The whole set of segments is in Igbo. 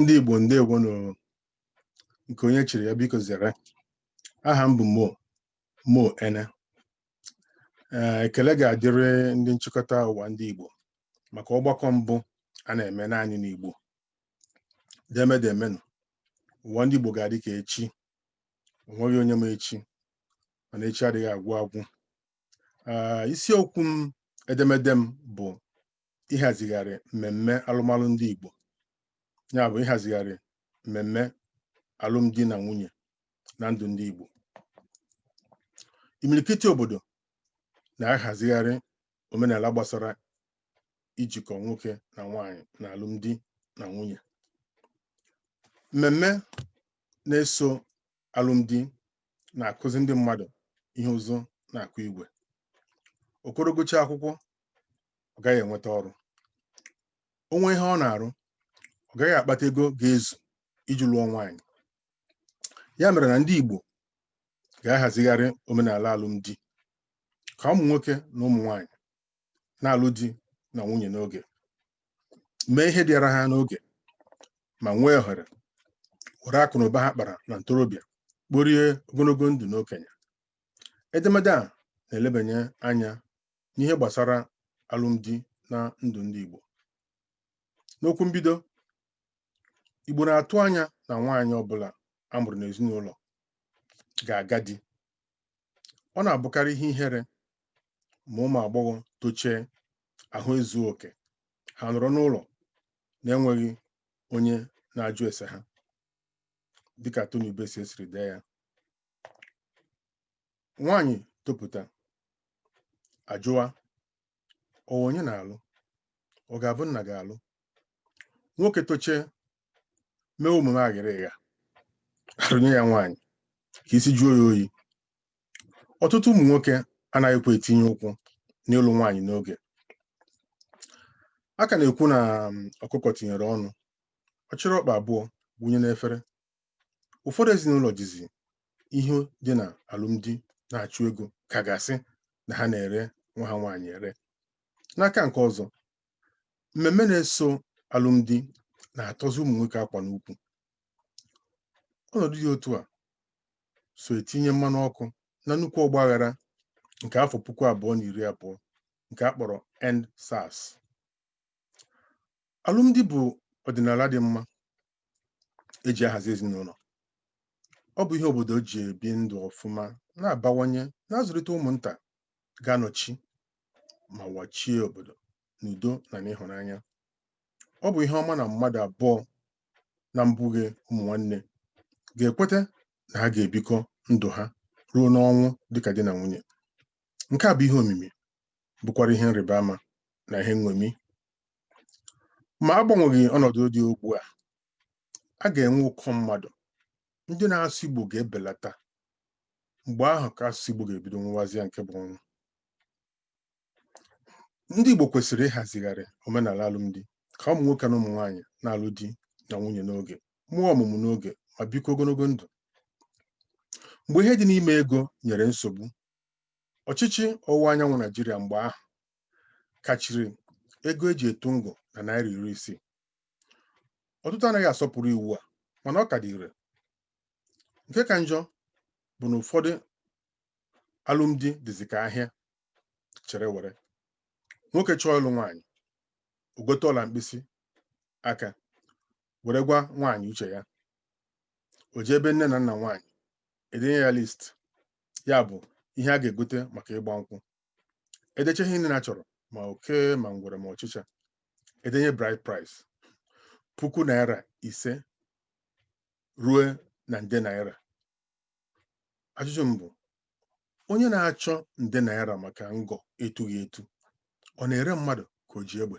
ndị Igbo ndewo nụ nke onye chiri ya biko zere aha m bụ Mo Mo Ene ee ekele ga-adịrị ndị nchịkọta ụwa ndị Igbo maka ọgbakọ mbụ a na-eme naanị n'Igbo deme demenụ ụwa ndị Igbo ga-adị ka echi onweghị onye ma echi mana echi adịghị agwụ agwụ Ah, isiokwu m edemede m bụ ịhazigharị mmemme alụmalụ ndị Igbo ya bụ ịhazigharị mmemme alụmdi na nwunye na ndụ ndị Igbo imirikiti obodo na-ahazigharị omenala gbasara ijikọ nwoke na nwanyị na alụmdi na nwunye mmemme na-eso alụmdi na-akụzi ndị mmadụ ihe ụzụ na-akụ igwe okoro gụchaa akwụkwọ ọ gaghị enweta ọrụ o nwee ihe ọ na-arụ ọ gaghị akpata ego ga-ezu iji lụọ nwaanyị ya mere na ndị Igbo ga-ahazigharị omenala alụmdi ka ụmụ nwoke na ụmụ nwaanyị na-alụ di na nwunye n'oge mee ihe dịara ha n'oge ma nwee ohere were akụ na ụba ha kpara na ntorobịa kporie ogologo ndụ n'okenye edemede a na-elebanye anya n'ihe gbasara alụmdi na ndụ ndị Igbo n'okwu mbido Igbo na-atụ anya na nwaanyị ọbụla a mụrụ n'ezinụlọ ga-aga di ọ na-abụkarị ihe ihere ma ụmụ agbọghọ tochie ahụ ezuo oke ha nọrọ n'ụlọ na-enweghị onye na-ajụ ese ha dịka Tony Ubesie siri dee ya nwaanyị topụta a jụwa ọ wụ onye na-alụ ọ ga-abụ nna ga-alụ nwoke tochie mee omume aghịrịgha arụnye ya nwaanyị ka isi jụọ ya oyi ọtụtụ ụmụ nwoke anaghịkwa etinye ụkwụ n'ịlụ nwaanyị n'oge a ka na-ekwu na um, ọkụkọ tinyere ọnụ ọ chịrị ọkpa abụọ gwụnye n'efere ụfọdụ ezinụlọ jizi ihe dị na alụmdi na-achụ ego ka a ga-asị na ha na-ere nwa ha nwaanyị ere n'aka nke ọzọ mmemme na-eso alụmdi na-atọzi ụmụ nwoke akwa n'ukwu ọnọdụ dị otu a so etinye mmanụ ọkụ na nnukwu ọgba aghara nke afọ puku abụọ na iri abụọ nke a kpọrọ end sars alụmdi bụ ọdịnala dị mma eji ahazi ezinụlọ ọ bụ ihe obodo ji ebi ndụ ọfụma na-abawanye na-azụlite ụmụnta ga-anọchi ma wachie obodo n'udo na n'ịhụnanya ọ bụ ihe ọma na mmadụ abụọ na mbụghị ụmụ nwanne ga-ekweta na ha ga-ebikọ ndụ ha ruo n'ọnwụ dịka di na nwunye nke a bụ ihe omimi bụkwara ihe nrịba ama na ihe nṅomi ma agbanweghị ọnọdụ dị ugbu a a ga-enwe ụkọ mmadụ ndị na-asụ Igbo ga-ebelata mgbe ahụ ka asụsụ Igbo ga-ebido nwụwazịa nke bụ ọnwụ ndị Igbo kwesịrị ịhazigharị omenala alụmdi ka ụmụ nwoke na ụmụ nwaanyị na-alụ di na nwunye n'oge mụọ ọmụmụ n'oge ma bikọọ ogologo ndụ mgbe ihe dị n'ime ego nyere nsogbu ọchịchị ọwụwa anyanwụ Naijiria mgbe ahụ kachiri ego eji etu ngọ na naira iri isii ọtụtụ anaghị asọpụrụ iwu a mana ọ ka dị ire nke ka njọ bụ na ụfọdụ alụmdi dịzi ka ahịa chere were nwoke chọọ ịlụ nwaanyị o gote ọla mkpịsị aka were gwa nwaanyị uche ya o jee ebe nne na nna nwaanyị edenye ya list ya bụ ihe a ga-egote maka ịgba nkwụ edeche ihe niile a chọrọ ma oke ma ngwere ma ọchịcha edenye bride price puku naira ise ruo na nde naira ajụjụ m bụ onye na-achọ nde naira maka ngọ etughị etu ọ na-ere mmadụ ka o ji egbe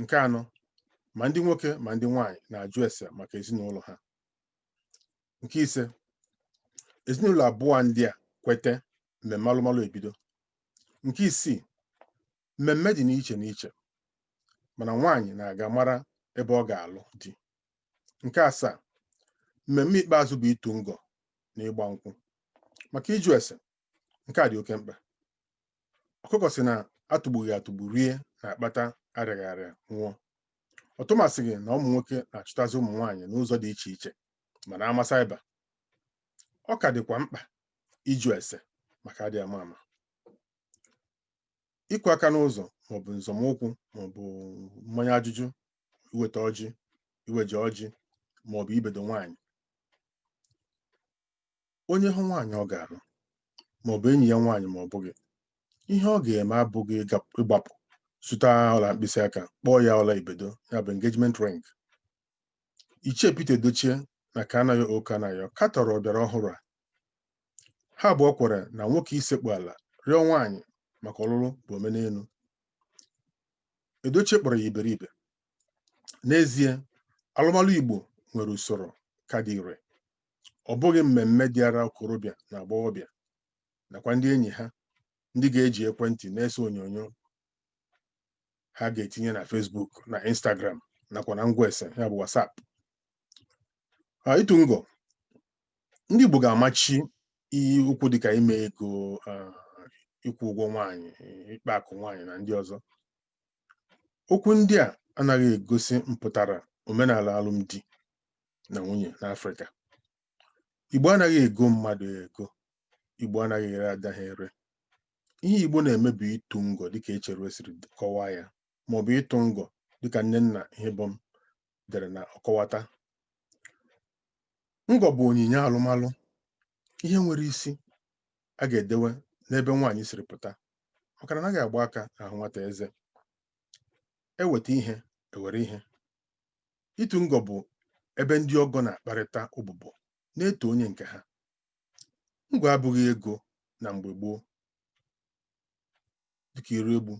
nke anọ ma ndị nwoke ma ndị nwaanyị na-ajụ ese maka ezinụlọ ha nke ise ezinụlọ abụọ ndị a kwete mmemme alụmalụ ebido nke isii mmemme dị n'iche n'iche mana nwaanyị na-aga mara ebe ọ ga-alụ di nke asaa mmemme ikpeazụ bụ itu ngọ na ịgba nkwụ maka ịjụ ese nke a dị oke mkpa ọkụkọ sị na atụgbughị atụgbu rie na-akpata arịaghị arịa nwụọ ọtụmasịghị na ụmụ nwoke na-achụtazi ụmụ nwaanyị n'ụzọ dị iche iche ma na ama saiba ọ ka dịkwa mkpa ịjụ ese maka adị ama ama ịkụ aka n'ụzọ maọbụ nzọmụkwụ maọbụ mmanya ajụjụ iweta ọjị iweje ọjị maọbụ ibedo nwaanyị onye hụ nwaanyị ọ ga-alụ ma ọ bụ enyi ya nwaanyị ma ọ bụghị ihe ọ ga-eme abụghị ịgbapụ zụta ọla mkpịsị aka kpọọ ya ọla ibedo ya bụ engagement ring ichie Peter Edochie na Kanayo O Kanayo katọrọ ọbịara ọhụrụ a ha abụọ kwere na nwoke isekpu ala rịọ nwaanyị maka ọlụlụ bụ omenelu Edochie kpọrọ ya iberibe n'ezie alụmalụ Igbo nwere usoro ka dị ire ọ bụghị mmemme dịara okorobịa na agbọghọbịa nakwa ndị enyi ha ndị ga-eji ekwentị na-ese onyonyo ha ga-etinye na Facebook na Instagram nakwa na ngwa ese ya bụ WhatsApp Ah, ịtụ ngọ ndị Igbo ga-amachi iji okwu dịka ime ego ah, ịkwụ ụgwọ nwaanyị ịkpa akụ nwaanyị na ndị ọzọ okwu ndị a anaghị egosi mpụtara omenala alụmdi na nwunye n'Afrịka Igbo anaghị ego mmadụ ego Igbo anaghị ere ada ha ere ihe Igbo na-eme bụ ịtụ ngọ dịka Echeruo siri kọwaa ya ma ọ bụ ịtụ ngọ dịka Nnenna Ihebom dere na ọkọwata ngọ bụ onyinye alụmalụ ihe nwere isi a ga-edewe n'ebe nwaanyị siri pụta maka na anaghị agba aka ahụ nwata eze eweta ihe ewere ihe ịtụ ngọ bụ ebe ndị ọgọ na-akparịta ụbụbọ na-eto onye nke ha ngọ abụghị ego na mgbe gboo dịka Iroegbu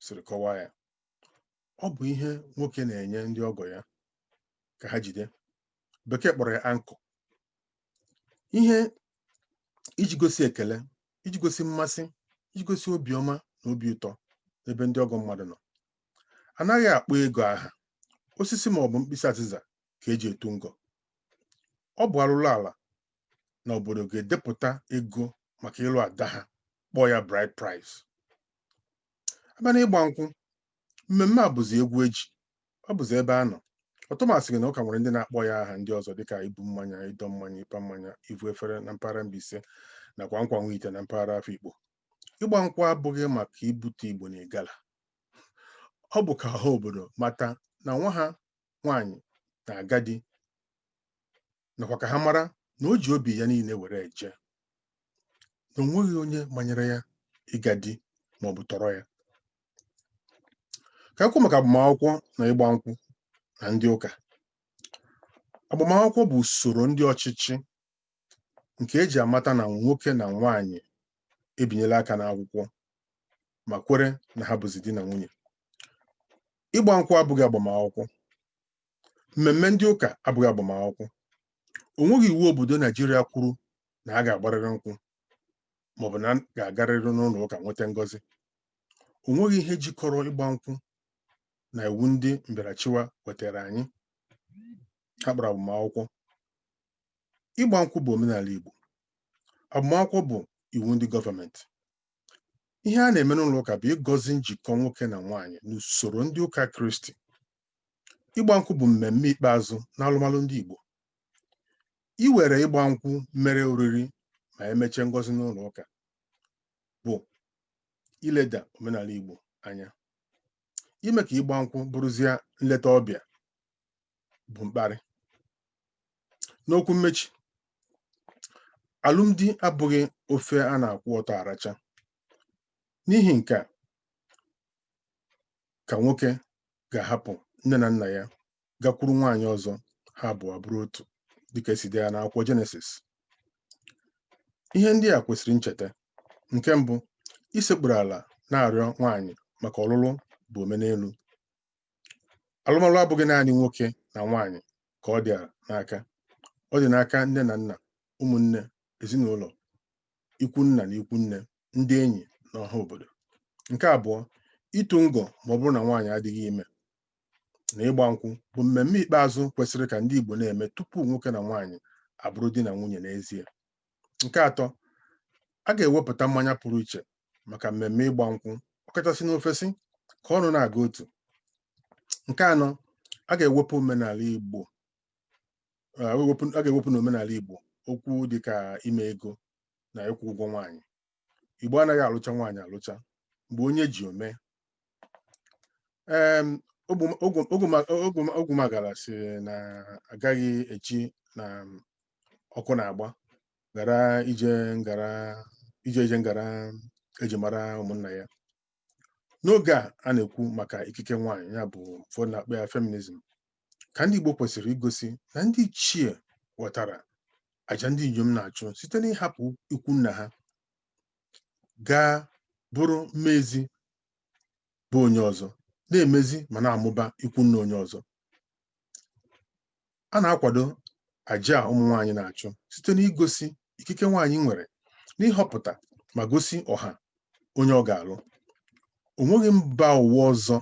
siri kọwaa ya ọ bụ ihe nwoke na-enye ndị ọgọ ya ka ha jide bekee kpọrọ ya anchor ihe iji gosi ekele iji gosi mmasị iji gosi obiọma na obi ụtọ n'ebe ndị ọgọ mmadụ nọ anaghị akpọ ego aha osisi ma ọ bụ mkpịsị azịza ka eji etu ngọ ọ bụ arụrụ ala na obodo ga-edepụta ego maka ịlụ ada ha kpọọ ya bride price abịa na ịgba nkwụ mmemme a bụzi egwu eji ọ bụzi ebe a nọ ọtụmasị gị na ụka nwere ndị na-akpọ ya aha ndị ọzọ dịka ibu mmanya ịdọ mmanya ịpa mmanya ivu efere na mpaghara Mbaise nakwa nkwa nwite na mpaghara Afikpo ịgba nkwụ abụghị maka ibute igbo na igala ọ bụ ka ọha obodo mata na nwa ha nwaanyị na-aga di nakwa ka ha mara na o ji obi ya niile were eje na o nweghị onye manyere ya ịga di ma ọ bụ tọrọ ya ka anyị kwuo maka agbamakwụkwọ na ịgba nkwụ na ndị ụka agbamakwụkwọ bụ usoro ndị ọchịchị nke eji amata na nwoke na nwaanyị ebinyela aka n'akwụkwọ ma kwere na ha bụzi di na nwunye ịgba nkwụ abụghị agbamakwụkwọ mmemme ndị ụka abụghị agbamakwụkwọ o nweghị iwu obodo naijiria kwuru na a ga-agbarịrị nkwụ maọbụ na a ga-agarịrị n'ụlọ ụka nweta ngọzi o nweghị ihe jikọrọ ịgba nkwụ na iwu ndị mbịarachịwa wetara anyị ha kpọrọ agbamakwụkwọ ịgba nkwụ bụ omenala igbo agbamakwụkwọ bụ iwu ndị gọọmenti ihe a na-eme n'ụlọ ụka bụ ịgọzi njikọ nwoke na nwaanyị n'usoro ndị ụka kristi ịgba nkwụ bụ mmemme ikpeazụ n'alụmalụ ndị Igbo iwere ịgba nkwụ mere oriri ma emechaa ngọzi n'ụlọ ụka bụ ileda omenala Igbo anya ime ka ịgba nkwụ bụrụzie nleta ọbịa bụ mkparị n'okwu mmechi alụmdi abụghị ofe a na-akwụ ọtọ aracha n'ihi nke a ka nwoke ga-ahapụ nne na nna ya gakwuru nwaanyị ọzọ ha abụọ bụrụ otu dịka esi dee ya n'akwụkwọ jenesis ihe ndị a kwesịrị ncheta nke mbụ isekpuru ala na-arịọ nwaanyị maka ọlụlụ bụ omenelu alụmalụ abụghị naanị nwoke na nwaanyị ka ọ dị n'aka ọ dị n'aka nne na nna ụmụnne ezinụlọ ikwu nna na ikwu nne ndị enyi na ọha obodo nke abụọ ịtụ ngọ ma ọ bụrụ na nwaanyị adịghị ime na ịgba nkwụ bụ mmemme ikpeazụ kwesịrị ka ndị Igbo na-eme tupu nwoke na nwaanyị abụrụ di na nwunye n'ezie nke atọ a ga-ewepụta mmanya pụrụ iche maka mmemme ịgba nkwụ ọkachasị n'ofesi ka ọnụ na-aga otu nke anọ a ga-ewepụ omenala Igbo a ga-ewepụ n'omenala Igbo okwu dịka ime ego na ịkwụ ụgwọ nwaanyị Igbo anaghị alụcha nwaanyị alụcha mgbe onye ji o mee Ogwumagala sị na agaghị eji na ọkụ na-agba ghara ije ngara ije ije ngara eji mara ụmụnna ya n'oge a a na-ekwu maka ikike nwaanyị ya bụ ụfọdụ na-akpọ ya feminism ka ndị Igbo kwesịrị igosi na ndị ichie ghọtara aja ndị inyom na-achụ site n'ịhapụ ikwu nna ha gaa bụrụ mmezi be onye ọzọ na-emezi ma na-amụba ikwu nna onye ọzọ a na-akwado aja ụmụ nwaanyị na-achụ site n'igosi ikike nwaanyị nwere n'ịhọpụta ma gosi ọha onye ọ ga-alụ o nweghị mba ụwa ọzọ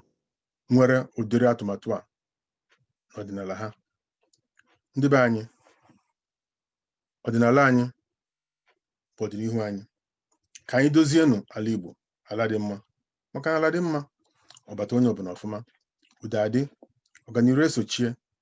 nwere ụdịrị atụmatụ a n'ọdịnala ha ndị be anyị ọdịnala anyị bụ ọdịnihu anyị ka anyị dozienụ ala Igbo ala dị mma maka na ala dị mma ọ bata onye ọbụla ọfụma udo adị ọganiru esochie